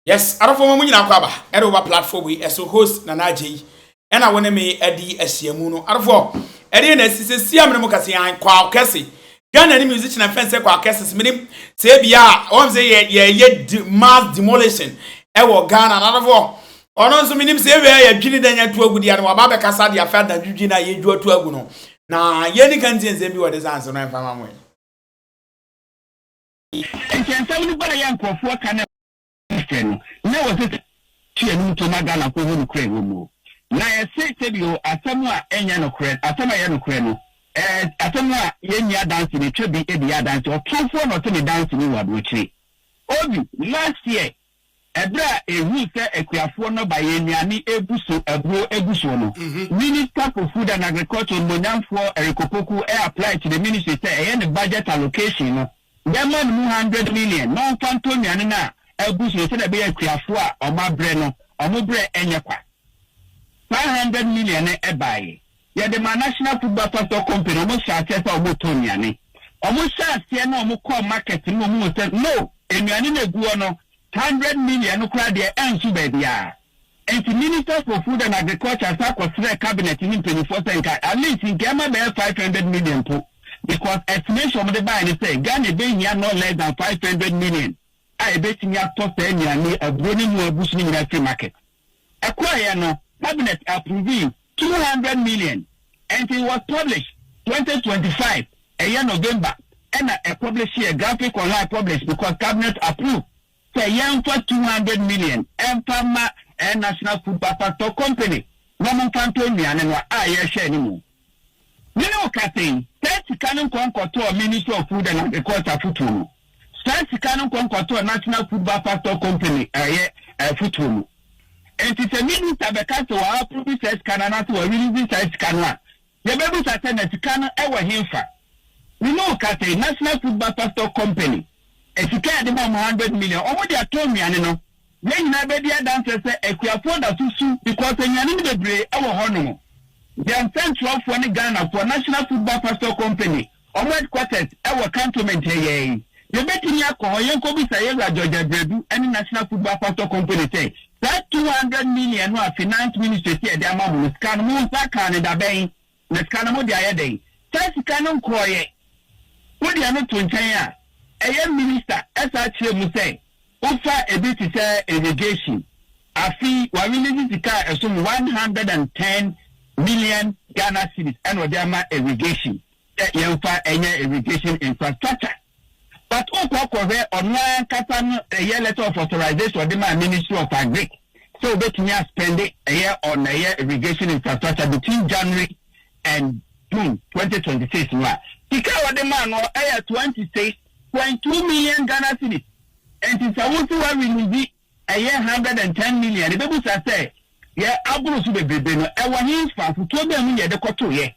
Yes adɔfoɔ ma mo nyinaa kɔ aba ɛde wo ba platform yi ɛso host Nana Adjei ɛna wo ne me adi ahyiamu no adɔfoɔ ɛdeɛ na asi sesia mene mo kase an Kwao Kese Ghana ni musician ɛfɛn sɛ Kwao Kese se menim sɛ ebia wɔn sɛ yɛ yɛ yɛ de, mass demolition ɛwɔ Ghana na adɔfoɔ ɔno nso menim sɛ ewia yɛ dwini dɛ nyɛ to agu deɛ no waba abɛkasa deɛ afɛ adadwidwi na yɛ dwo to agu no na yɛ ni ka nti nsɛm bi wɔ de sanse no ɛmfa ma mo yi. Enti nsɛm no baeɛ a nkurɔfoɔ ka ne sɛ no, na wɔsɛ sɛ tu anum to ma Ghanafoɔ hu nokorɛ a ɛwɔ mu. Na yɛse sɛbio asɛm a ɛnyɛ nokorɛ, asɛm a ɛyɛ nokorɛ no, ɛɛ asɛm a yɛnni adanse no, twa bi de yɛ adanse, ɔtomfoɔ na ɔte ne danse mu wɔ aburokyire. Obi, last year Ɛberɛ a ɛhuu sɛ akuafoɔ no ba yɛ nnuane regu so aburo gu soɔ no, Minister for Food and Agriculture animuonyamfoɔ Eric Opoku apply to the ministry sɛ ɛyɛ ne budget allocation no yɛmma no mu hundred million na ɔmfa ntɔ nnuane no a agu so no sɛdeɛ ɛbɛyɛ akuafoɔ a wɔabrɛ no wɔn berɛ nyɛ kwa. Saa hundred million no baeɛ. Yɛde maa National Football Pastor Company, wɔn hyɛɛ aseɛ sɛ wɔn tɔn nnuane. Wɔn hyɛɛ aseɛ na wɔn kɔɔ market no na wɔn hu sɛ no, nnuane no ɛgu hɔ no, hundred million no koraa deɛ ɛnso baabiara. Nti Minister for Food and Agriculture san kɔ srɛɛ Cabinet no mpaninfoɔ sɛ nka at least nka ɛma bɛyɛ five hundred million mpo because estimation a wɔde baeɛ no sɛ Ghana ɛbɛhia no less than five hundred million a ɛbɛtumi atɔ saa nnuane, aburo ne ɛmu agu so no nyinaa afiri market. Ɛkɔeɛ no, cabinet approvee two hundred million and it was published twenty twenty five, ɛyɛ November ɛna ɛpublisheɛ graphic online published because cabinet approved sɛ yɛmfa two hundred million ɛmfa mma ɛyɛ National Food Factor Company na wɔmfa ntɔ nnuane no a yɛrehwɛ no mu. Mene wo ka sɛi, saa sika no nkɔ nkɔtɔɔ Ministry of Food and Agriculture afutuo no, saa sika no nkɔ nkɔtɔɔ National Food Buffer Stock Company ɛyɛ afutuo no. Enti sɛ Minister bɛka sɛ wa approve saa sika no anaasɛ wa release saa sika no a, yɛbɛbisa sɛ na sika no ɛwɔ henfa? Mene wo ka sɛi, National Food Buffer Stock Company, sika a yɛde ma wɔn hundred million, wɔn de atɔ nnuane no, Yɛn nyinaa bɛdi adanseɛ sɛ akuafoɔ da so su because anuanom bebree wɔ hɔ nom. Yɛn nsɛnkyerɛwfoɔ ne Ghanafoɔ National Football Pastor Company wɔn headquarters wɔ Cantonment ha yɛn. Yɛbɛtumi akɔ hɔ yɛnkɔbisa yɛn wura George Abradu ne National Football Pastor Company sɛ saa two hundred million no a Finance Ministry se yɛde ama mo no sika no mo nsa kaa no dabɛn? Na sika no mode ayɛ dɛn? Saa sika no nkorɔeɛ, wode ɛno to nkyɛn a, ɛyɛ minister ɛsan kyerɛ mu sɛ wofa ɛbi te sɛ irrigation. Afei w'arelease sika a ɛsom one hundred and ten million Ghana cedis ɛna ɔde ama irrigation sɛ yɛmfa ɛnyɛ irrigation infrastructure. But wo kɔ kɔ hwɛ ɔno ankasa no ɛyɛ letter of authorization ɔde maa ministry of agric sɛ obetumi a spend ɛyɛ on ɛyɛ irrigation infrastructure between January and June twenty twenty six no a sika a ɔde maa no ɛyɛ twenty six point two million Ghana cedis nti sɛ wo nso wa release ɛyɛ hundred and ten million no bɛbu saa sɛ, Yɛ aboro so bebrebe no, ɛwɔ henfa? Afotuo bɛn mu na yɛde kɔtoeɛ?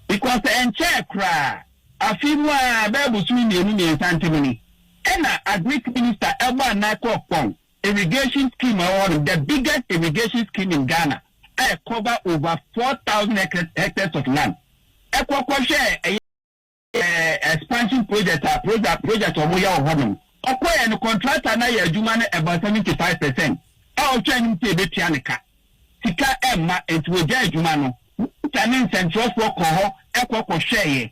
Because ɛnkyɛɛ koraa, afe mu ara, bɛyɛ bosome mmienu mmiɛnsa ntam ni, ɛna Agric Minister bɔɔ anan kɔɔ Kpong Irrigation Scheme a ɛwɔ hɔnom, the biggest irrigation scheme in Ghana a ɛ cover over four thousand hectares of land, ɛkɔ kɔhwɛɛ ɛyɛ. expansion project a project project a wɔyɛ wɔ hɔnom. Ɔkɔɛ no contractor no ayɛ adwuma no about seventy five percent a ɔhwɛ anim sɛ ebetua ne ka. Sika ɛmma nti wɔgyae adwuma no. Minister ne nsɛnkyerɛwfoɔ kɔɔ hɔ ɛkɔ kɔ hwɛɛyɛ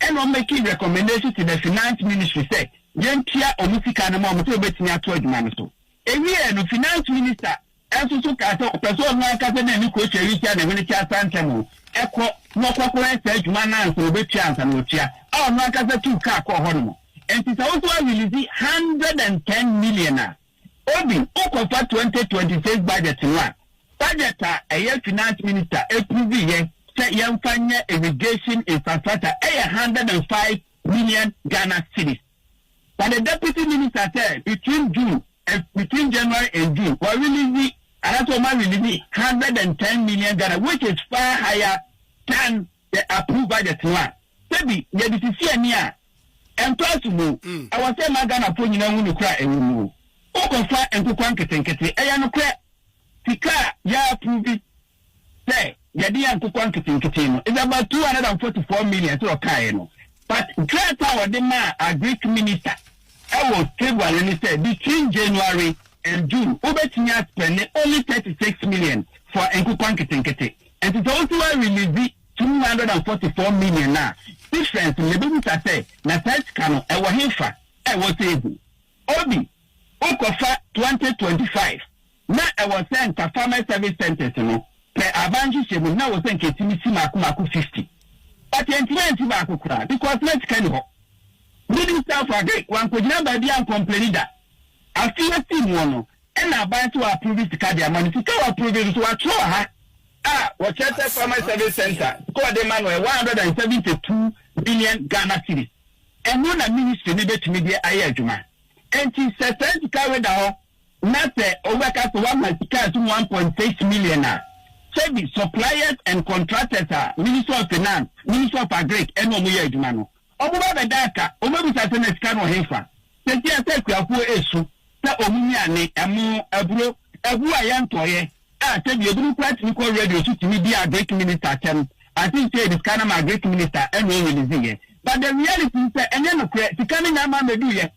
ɛna wɔn make recommendation to the finance ministry sɛ yɛntua wɔn sika no ma wɔn sɛ wɔbɛtumi ato adwuma no so. Ewiee no finance minister nso so kaa sɛ ɔpɛ sɛ ɔno ankasa de ne kurokyɛ retua ne hwene kyɛ asan ntɛm o, kɔ na ɔkɔkɔyɛ saa adwuma no ansa ɔbɛtua ansa na watua, a ɔno ankasa tuu kaa kɔɔ hɔ nom. Enti sɛ wo nso woarelease hundred and ten million a, Obi, wokɔfa twenty twenty six budget no a, budget a ɛyɛ Finance Minister approveeɛ sɛ yɛmfa nyɛ irrigation infrastructure yɛ hundred and five million Ghana cedis. For the deputy minister sɛ between June and between January and June wa release anaasɛ wɔn a release hundred and ten million Ghana which is far higher than the approved budget no a sɛbi yɛde sisi ani a ɛmfaaso mu ɛwɔ sɛ ɛma Ghanafoɔ nyinaa hu nokorɛ a ɛwɔ mu o. Wokɔfa nkokwa nketenkete ɛyɛ nokorɛ sika a yɛ approve sɛ yɛde yɛ nkokɔ nketenkete no is about two hundred and forty four million sɛ ɔkaeɛ no but krataa a ɔde maa agric minister ɛwɔ February ne sɛ between January and June wobɛtumi a spɛnde only thirty six million for nkokɔ nketenkete nti sɛ wosi wa release two hundred and forty four million no a difference no yɛbɛbisa sɛ na saa sika no ɛwɔ hefa a ɛwɔ sɛ ɛgu Obi, Wokɔfa twenty twenty five na ɛwɔ sɛ nka Farmers Service Centres no pɛ aban nhyehyɛ mu na ɛwɔ sɛ nka ɛtumi si maako maako fifty but ɛntumi ansi baako koraa because na sika ni hɔ. Midi Self Agric wankɔgyina baabi ankɔmpleni da. Afe yi ɛsii muɔ no ɛna aban se wɔaprove sika de ama no. Sika a wɔaprove no nso wɔatwerɛ wɔ ha a wɔkyerɛ sɛ Farmers Service Centre sika a wɔde ma no yɛ one hundred and seventy two million Ghana cedis. Ɛno na ministry no bɛtumi de ayɛ adwuma. Ɛnti sɛ saa sika wei da hɔ na sɛ wobɛka sɛ woama sika a ɛsom one point six million a, sɛbi suppliers and contractors a Ministry of Finance, Ministry of Agric ɛne wɔn yɛ adwuma no, wɔn ba bɛda aka, wɔn abisa sɛ na sika no wɔ henfa? Sesia sɛ akuafoɔ ɛresu sɛ wɔn nnuane, ɛmo, aburo, ɛbuo a yɛntɔeɛ, A sɛ deɛ ebinom koraa tumi kɔ radio so tumi di agric minister atɛm I think sɛ yɛde sika nam agric minister ɛna ɔ release yɛ but the reality ne sɛ ɛnyɛ nokorɛ sika no nya ama mɛduu yɛ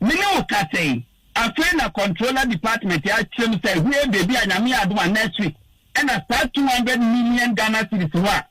me ne wo kasa yi afei na controller department akyerɛ mu sɛ hwee baby a nyame yɛ adom a next week ɛna saa two hundred million Ghana cedis no a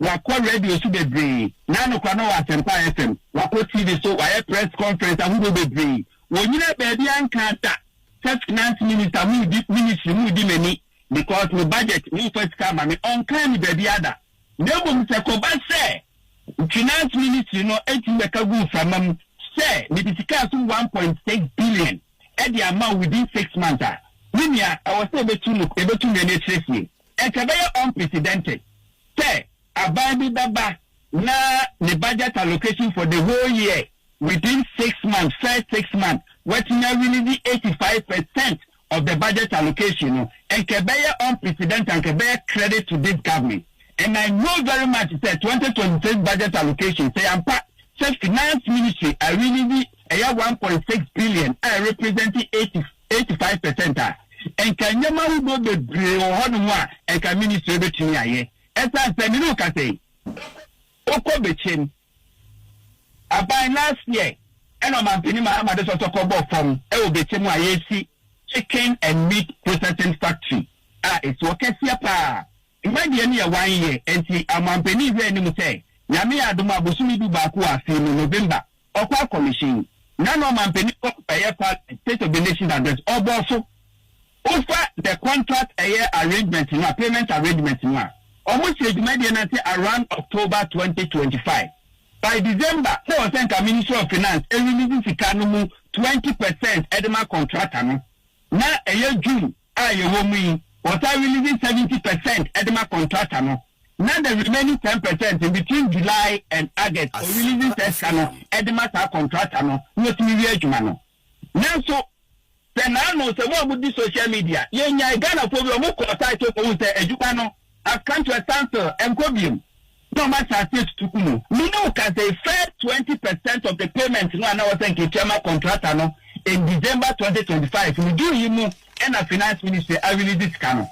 Wakɔ radio so bebree. N'ano kora na ɔwɔ Asempa FM. Wakɔ TV so, wayɛ press conference ahodoɔ bebree. Wɔnyinaa baabi a nkaa da sɛ finance minister mudi, ministry mudi m'ani because me budget momfa sika ma me. Ɔnkaa ne baabiara da. Na mmom sɛ kɔba sɛ finance ministry no tumi bɛka gu mframa mu sɛ mede sika so one point six billion de ama wo within six months a, me nua ɛwɔ sɛ yɛbɛtu no, yɛbɛtu nnuane akyire fie. Ɛkɛbɛyɛ unprecedented sɛ aban bi bɛba na ne budget allocation for the whole year within six months, first six months, watumi a release eighty five percent of the budget allocation no. Ɛkɛbɛyɛ unprecedented, ɛkɛbɛyɛ credit to this government and I know very much sɛ twenty twenty six budget allocation sɛ yɛampa sɛ finance ministry a release ɛyɛ one point six billion a ɛrepresent eighty eighty five percent a, nka nneɛma ahodoɔ bebree wɔ hɔ nom a nka ministry bɛtumi ayɛ. Ɛsiane sɛ me ne wo kasa yi, wokɔ bɛkyɛm aban last year ɛna ɔmampanin Mahama de sɔsɔ kɔbɔɔ fam wɔ bɛkyɛm a yɛresi chicken and meat processing factory a ɛsi hɔ kɛseɛ paa Mma deɛ ne yɛ wan yɛ nti amoampanin hwɛ anim sɛ Nyame yɛ adom a bosome du baako wɔ afee mu November ɔkɔ akɔmehyen na na ɔmampanin kɔ kɔbɛyɛ parliament state of the nation address ɔbɔ so wofa the contract ɛyɛ arrangement no a payment arrangement no a ɔmo sɛ dwumadie no ase around October twenty twenty five by December na ɔsɛ nka ministry of finance ɛrelease sika no mu twenty percent ɛde ma contractor no na ɛyɛ June a yɛwɔ mu yi, wɔtaa release seventy per cent de ma contractor no, na the remaining ten per cent no, between July and August, wɔ release saa sika no de ma saa contractor no na watumi wie adwuma no. Nanso, sɛ naano, sɛ mo a modi social media, yɛnyae Ghanafoɔ bi, wɔkɔɔ site hɔ kɔhuu sɛ adwuma no has come to a standstill, ɛnkɔ bio. na wɔn asase atutu gu mu. Me ne wo ka sɛ first twenty percent of the payment no a na ɛwɔ sɛ nka etua ma contractor no in December twenty twenty five no June yi mu na Finance Ministry a release sika no.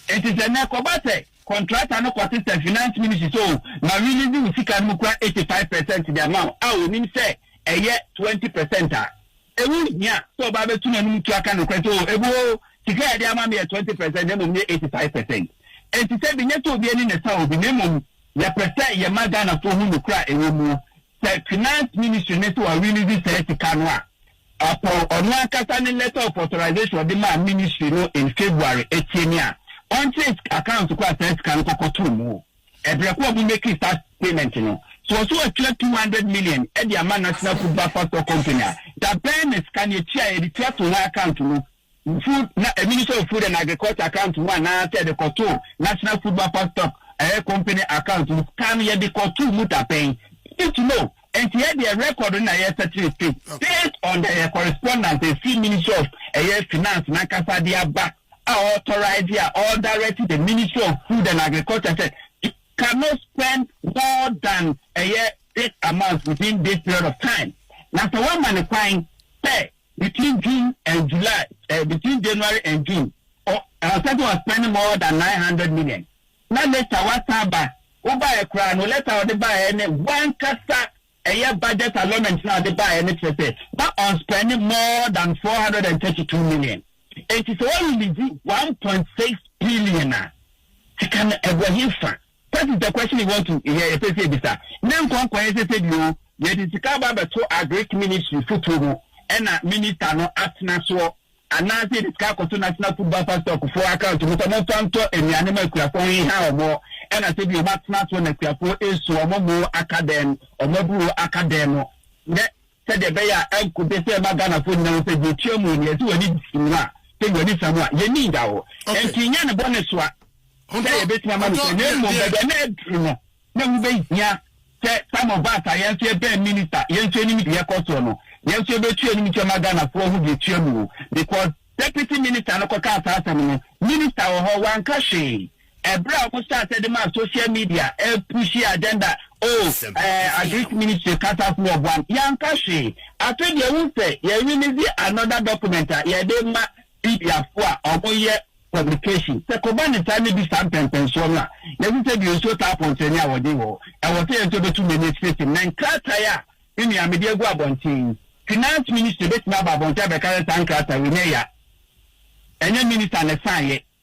Enti sɛ nnɛ ɛkɔba sɛ contractor no kɔsesa Finance Ministry sɛ oh ma release wo sika no mu kura eighty five percent de ama wo a onim sɛ ɛyɛ twenty percent a, Ɛho hia sɛ ɔbaa bɛtu n'anom tu aka nokorɛ sɛ, Oo Abu oo, sika a ɛde ama me yɛ twenty percent na mmom nyɛ eighty five percent. Ɛnte sɛ benya sɛ obi ani na ɛsa obi, na mmom yɛpɛ sɛ yɛma Ghanafoɔ hu nokorɛ a ɛwɔ muo. Sɛ Finance Ministry no sɛ wa release saa sika no a, ɔpɔn ɔno ankasa ne letter of authorization a ɔde maa Ministry no in February atie ne a ɔnkyerɛ account ko a saa sika no kɔkɔtoo muo. Ɛbrɛ ko a ɔmo meki saa payment no. So ɔse watua two hundred million de ama National Food Manufacture Company a, da bɛn na sika no etua a yɛde tua to hɔn account mu, Food, na Ministry of Food and Agriculture account mu anaa sɛ yɛde kɔto National Food Manufacture Company account mu, sika no yɛde kɔto mu da bɛn? We need to know. Enti yɛ deɛ record no na yɛ setting straight based on the ɛyɛ correspondence ɛfiri ministry of ɛyɛ finance no ankasa de aba a authorise a ɔ direct the ministry of food and agriculture sɛ you cannot spend more than ɛyɛ this amount within this period of time na sɛ woama no kwan sɛ between June and July ɛɛ between January and June ɔ ɔnsɛ sɛ ɔ spend more than nine hundred million. Na later wasan aba, wo baeɛ koraa no letter a ɔde baeɛ ne w'ankasa ɛyɛ budget allotment no a ɔde baeɛ no kyerɛ sɛ na ɔnspɛnde more than four hundred and thirty two million enti sɛ wɔ release one point six billion a sika no ɛgu ɛhefa? That is the question we want to yɛ yɛpɛ sɛ yɛbisa ne nkɔnkɔeɛ sɛ sɛ bio yɛde sika aba abɛto agric ministry fotuo mu ɛna minister no atena soɔ Anaase yɛde sika akɔ so national food buffer stock foɔ account mu sɛ momfa ntɔ anuane ma akuafoɔ ho hia wɔn ɛna sɛ bi wɔn atena soɔ na akuafoɔ ɛsu wɔn moo aka dɛn wɔn aburo aka dɛn no nɛ sɛdeɛ ɛbɛyɛ a ɛnko de sɛ ɛma Ghanafoɔ nyina ho sɛ deɛ ɛtua mu nea ɛsɛ w'ani si mu a sɛ w'ani sa mu a yɛni nda hɔ ɛnti nyɛ ne bɔne soa sɛ yɛbɛtumi ama no sɛ na mmom bɛbɛ na aduru no na ɛho bɛhia sɛ some of us a yɛn nso yɛbɛn minister, yɛn nso yɛnim deɛ ɛkɔ soɔ no, yɛn nso yɛbɛtu yɛn anim kyɛ ma Ghanafoɔ ahu deɛ ɛtua mu o, because Deputy Minister no kɔkaa saa asɛm no, Minister wɔ hɔ, wanka hwee. Ɛberɛ a wɔhyɛɛ aseɛ de maa social media ɛrepushi agenda, oh, eh, Agric Ministry cut us more of one, yɛanka hwee. Afei deɛ wohu sɛ yɛ release another document a yɛde ma Mediafo a wɔyɛ publication, sɛ kɔba ne saa ne bi saa mpɛnpɛnsoɔ no a, yɛse sɛ deɛ nsuo taa pɔntɛne a wɔden wɔ hɔ. Ɛwɔ sɛ yɛn nso yɛbɛtu mmirika asiesie mu. Na nkratae a me nua mede agu abɔnten yi, Finance Ministry bɛtumi aba abɔnten abɛka sɛ saa nkratae wei nyɛ ya. Ɛnyɛ Minister na ɛsaeɛ.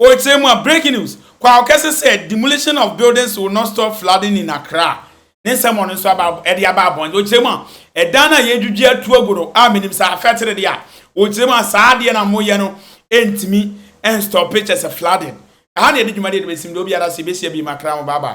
Ɔkyerɛ mu a, Breaking News, Kwaw kɛse sɛ demolition of buildings will not stop flooding in Accra, ne nsɛm a ɔno nso aba ɛde aba abɔn. Ɔkyerɛ mu a, Ɛdan a yɛredwidwi atu agu no a menim saa afɛtere deɛ a, ɔkyerɛ mu a, saa adeɛ no a moyɛ no ntumi nstɔpe kyɛ sɛ flooding. Ɛha na yɛde dwumadie no bɛsim deɛ obiara sɛ yɛbɛhyia bio ma Accra ho bye bye.